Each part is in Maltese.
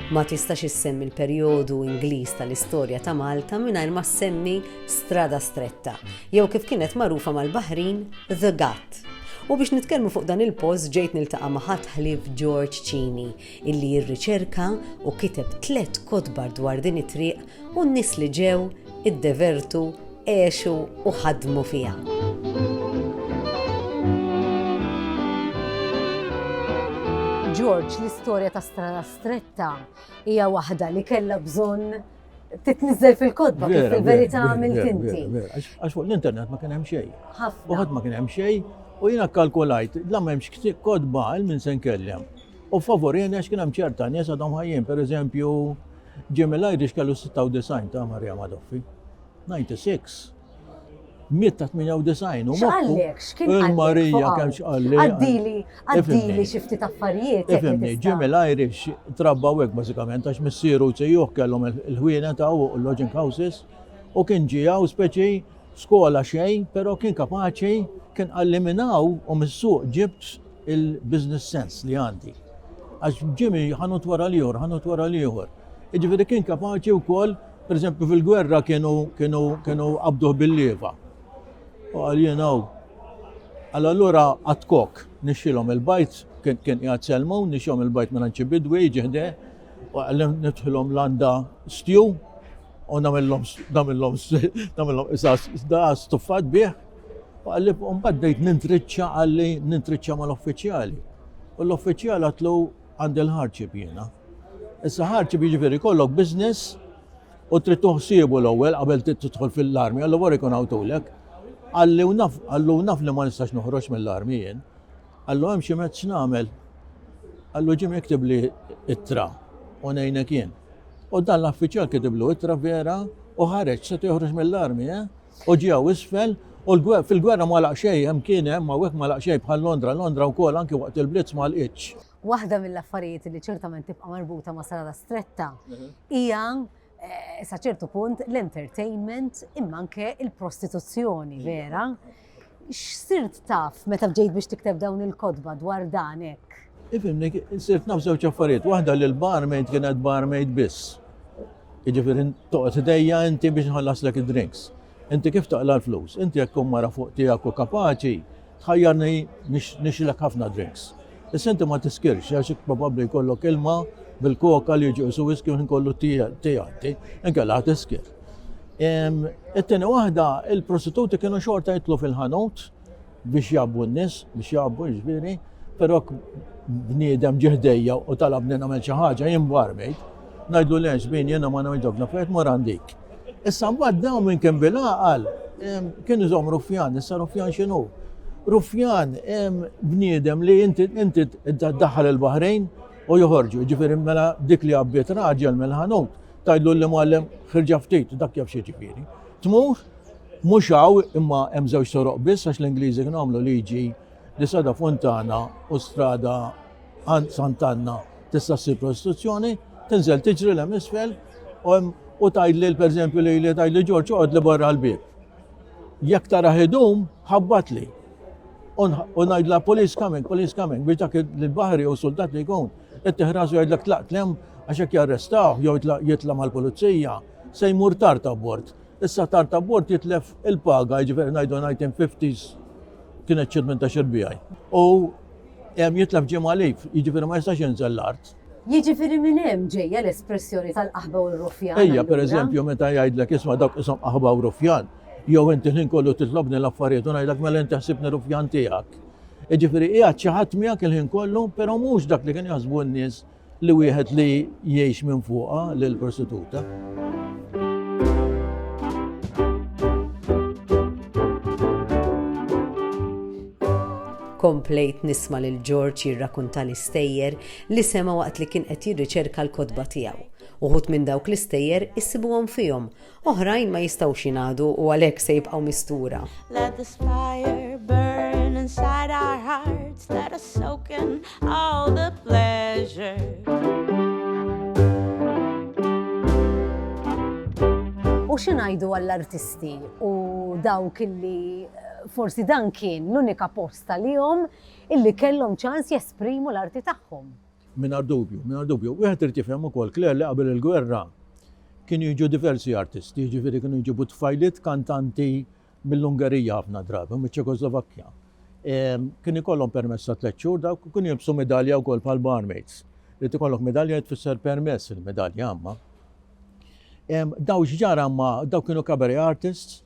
Ma tistax issemmi l-perjodu Ingliż tal-istorja ta' Malta mingħajr ma ssemmi Strada Stretta, jew kif kienet magħrufa mal-Baħrin, The Ghat. U biex nitkellmu fuq dan il-post ġejt niltaqa' ma' ħadd ħlief George Cini, illi rriċerka u kiteb tliet kotbar dwar din it-triq u n-nies li ġew, iddevertu, għexu u ħadmu fiha. George, l-istorja ta' Strada Stretta hija waħda li kellha bżonn titniżel fil-kodba kif fil-verità għamilt inti. Għax fuq l-internet ma kien hemm xejn. Ħafna. ma kien hemm xejn u jiena kalkulajt la m'hemmx kodba għal min se nkellem. U favorjeni għax kien hemm ċerta nies għadhom ħajjin, pereżempju Jimmy Lajdix kellu 96 ta' Marja Madoffi. 96. Miet ta' 98 u X'qallek? X'kien il-Marija kemm x'qalli. Għaddili, għaddili xi ftit affarijiet. Ifimni, Jimmy Lajdix trabba hekk bażikament għax missieru sejjuh kellhom il-ħwienet hawn u l-lodging houses u kien ġie hawn speċi skola xejn, pero kien kapaċi, kien qalli minn hawn u mis-suq ġibt il-business sense li għandi. Għax ġimi ħanut wara l-ieħor, ħanut wara l-ieħor. Iġifieri kien kapaċi wkoll, pereżempju fil-gwerra kienu kienu kienu qabduh bil-lieva. U għal jien hawn. Għal allura għatkok nixxilhom il-bajt, kien kien qiegħed selmu, nixxilhom il-bajt minn ċibidwi ġiħde, u għallim nidħilhom landa stju, U nagħmilhom nagħmilhom nagħmilhom qisas da stuffat bih. U qalli mbagħad bdejt nintriċċa qalli nintriċċa mal-uffiċjali. U l-uffiċjal għatlu għandi l-ħarċib jiena. Issa ħarċib jiġifieri kollok business u trid tuħsiebu l-ewwel qabel tidħol fil-armi, għallu wara jkun għawtulek. Għalli u naf, għallu naf li ma nistax noħroġ mill-armi jien. Għallu hemm xi mezz nagħmel. Għallu ġim iktib li ittra u ngħinek jien. U dan l-affiċjal kitiblu ittra vera u ħareġ, setgħu joħroġ mill-armi, eh? U ġie hawn isfel, u fil-gwerra ma laq xejn, hemm kien hemm, hawnhekk ma laq xejn bħal Londra, Londra wkoll anki waqt il-blitz ma lqitx. Waħda mill-affarijiet li ċertament tibqa' marbuta ma' Sala Stretta mhm. hija eh, sa ċertu punt l-entertainment imma anke il-prostituzzjoni vera. X'sirt taf meta bdejt biex tikteb dawn il-kotba dwar dan hekk? Ifimni, sirt naf żewġ affarijiet. Waħda li l-barmaid kienet barmaid biss. Jiġifieri toqgħod idejja inti biex nħallaslek id-drinks. Inti kif taqla l-flus? Inti jekk tkun mara fuq tiegħek u kapaċi, tħajjarni nixilek ħafna drinks. Issa inti ma tiskirx għax probabbli jkollok ilma bil-koka li jiġu jisu whisky minn kollu tijanti, inkella tiskir. It-tieni waħda, il-prostituti kienu xorta jitlu fil-ħanut biex jabbu n-nis, biex jabbu ġbiri, pero bniedem ġihdejja u talab li namel xi ħaġa jien barmejt, ngħidlu lex bin jiena ma ngħidok nafet morandik. Issa mbagħad dawn minn kien bil-għaqal kien iżom ruffjan, issa ruffjan x'inhu? Ruffjan bniedem li inti inti daħħal il-Baħrejn u joħorġu, ġifieri mela dik li għabbiet raġel mill-ħanut tajdlu li muallem ħirġa ftit dak jaf xi ġifieri. Tmur mhux hawn imma hemm żewġ soroq biss għax l-Ingliżi kienu għamlu liġi li sada Fontana u strada Għand Sant'Anna tista' ssir prostituzzjoni, tinżel tiġri l isfel u tgħidli pereżempju li li tgħidli Ġorġ oqgħod li barra l-bieb. Jekk tara ħidum, ħabbatli. U ngħidla police coming, police coming, biex dak il-baħri u soldat li jkun, qed tiħrasu jgħidlek tlaq tlem għax jekk jarrestaw jew jitla' mal-pulizija, se jmur tard abbord. Issa tard abbord jitlef il-paga, jiġifieri ngħidu 1950s kienet xi 18 il-bijaj. U Hemm jitlef ġie magħlib, jiġifieri ma jistax jinżel l-art. Jiġifieri minn hemm ġejja l-espressjoni tal-qaħba u r-ruffjan. Ejja, pereżempju, meta jgħidlek isma' dawk qishom qaħba u ruffjan, jew inti l-ħin kollu titlobni l-affarijiet u ngħidlek mela inti ħsibni ruffjan tiegħek. Jiġifieri qiegħed xi ħadd miegħek il-ħin kollu, però mhux dak li kien jaħsbu n-nies Li wieħed li jgħix minn fuqha lil prostituta. Komplejt nisma lil George jirrakunta l-istejjer li sema waqt li kien qed jirriċerka l-kotba tiegħu. Uħut minn dawk l-istejjer issibuhom fihom Oħrajn ma jistgħux jingħadu u għalhekk se jibqgħu mistura. U xi ngħidu għall-artisti u dawk illi eh, forsi dan kien l-unika post għalihom illi kellhom ċans jesprimu l-arti tagħhom. Mingħajr dubju, mingħajr dubju. Wieħed irid jifhem ukoll, Claire, li qabel il-gwerra kienu jiġu diversi artisti, jiġifieri kienu jġibu tfajliet kantanti mill-Ungerija ħafna drabi, u miċ-Ċekoslovakkja. Kien ikollhom permess ta' tliet xhur dawk u kienu jilbsu medalja wkoll bħal barmaids. Li tikollok medalja tfisser permess il-medalja għamma. Daw x'ġara ma daw kienu cabaret artists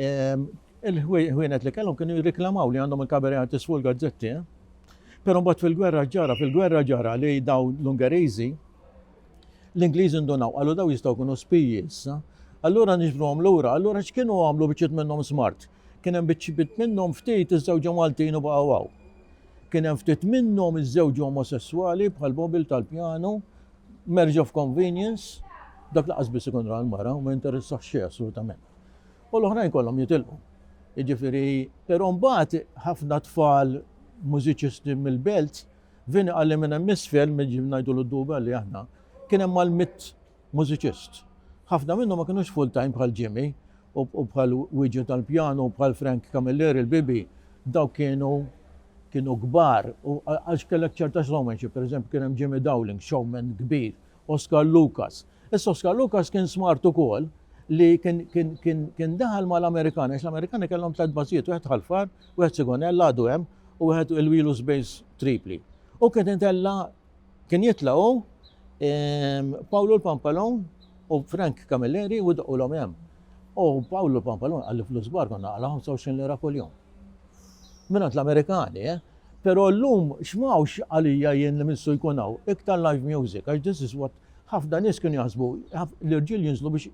Il-ħwienet li kellhom kienu jirriklamaw li għandhom il-kabaret artist fuq il-gazzetti. Però mbagħad fil-gwerra ġara, fil-gwerra ġara li daw l-Ungeriżi l-Ingliżi ndunaw qalu daw jistgħu kunu spiji issa. Allura nixbruhom lura, allura x'kienu għamlu biċċiet minnhom smart. Kien hemm biċċiet minnhom ftit iż-żewġu Maltin u baqgħu Kien hemm ftit minnhom iż-żewġu omosessuali bħal Bobil tal-pjanu Marriage of convenience, dak laqas biss ikun ra l-mara u ma jinteressax xejn assolutament. U l-oħrajn kollhom jitilqu. Jiġifieri, però mbagħad ħafna tfal mużiċisti mill-belt vini qalli minn hemm isfel minn ġim ngħidu l-duba li aħna kien hemm mal-mitt mużiċist. Ħafna minnhom ma kinux full time bħal Jimmy u bħal Wieġu tal-Pjanu u bħal Frank Camilleri l-Bibi, dawk kienu kienu kbar u għax kellek ċerta showmanship, per eżempju kien hemm Jimmy Dowling, showman kbir, Oscar Lucas. Issa Oscar Lucas kien smart ukoll li kien kien kien kien daħal mal-Amerikani, għax l-Amerikani kellhom tliet bażijiet, wieħed Ħalfar, wieħed Sigonella għadu hemm u wieħed il-Wheelus Base Tripli. U kien itella' Kien jitla' hu, Pawlu l-Pampalun u Frank Camilleri u doqqulhom hemm. U Pawlu l-Pampalun qal li flus kbar konna naqla' 25 lira kuljum. Mingħand l-Amerikani, eh? Però llum x'm'hawnx għalija jien li missu jkun hawn, iktar live music, għax this is what ħafna nies kienu jaħsbu, l-irġiel jinżlu biex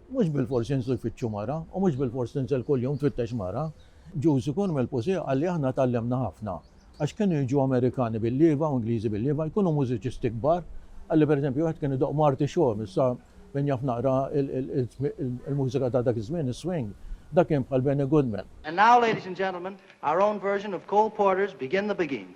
mhux bilfors jinżlu jfittxu mara u mhux bilfors tinżel kuljum tfittex mara. Ġużi Kormelpuse qal li aħna tgħallimna ħafna. għax kienu jiġu Amerikani bil-lieva u Ingliżi bil-lieva jkunu mużiċisti kbar, qalli per eżempju wieħed kien idoqq Marty Shore, issa min jaf naqra il-mużika ta' dak iż-żmien, is-swing, dak kien bħal Benny Goodman. And now ladies and gentlemen, our own version of Cole Porter's Begin the Beguine.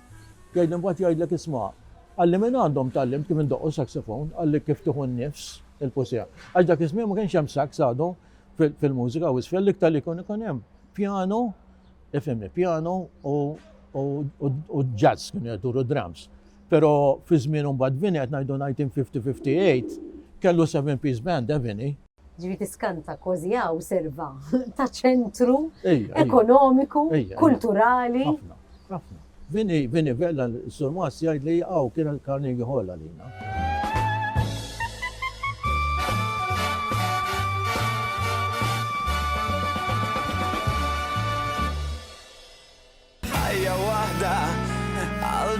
Jgħidli mbagħad jgħidlek isma', qalli minn għandhom tgħallimt kif indoqqu saxophone, qalli kif tieħu n-nifs, il-pusiha. Għax dak iż-żmien ma kienx hemm sax għadu fil-mużika u isfel, l-iktar li jkun ikun hemm pjanu, ifhimni, pjanu u jazz kienu jduru drums. Però fi żmien mbagħad Vinnie qed ngħidu 1950-58 kellu seven piece band, eh Vinnie? Ġifieri tiskanta kważi hawn serva ta' ċentru ekonomiku, kulturali. Ħafna, ħafna. Vini, Vini Vella, Sur Mas jgħid li hawn kien il-Carnegie Hall għalina. Ħajja waħda għal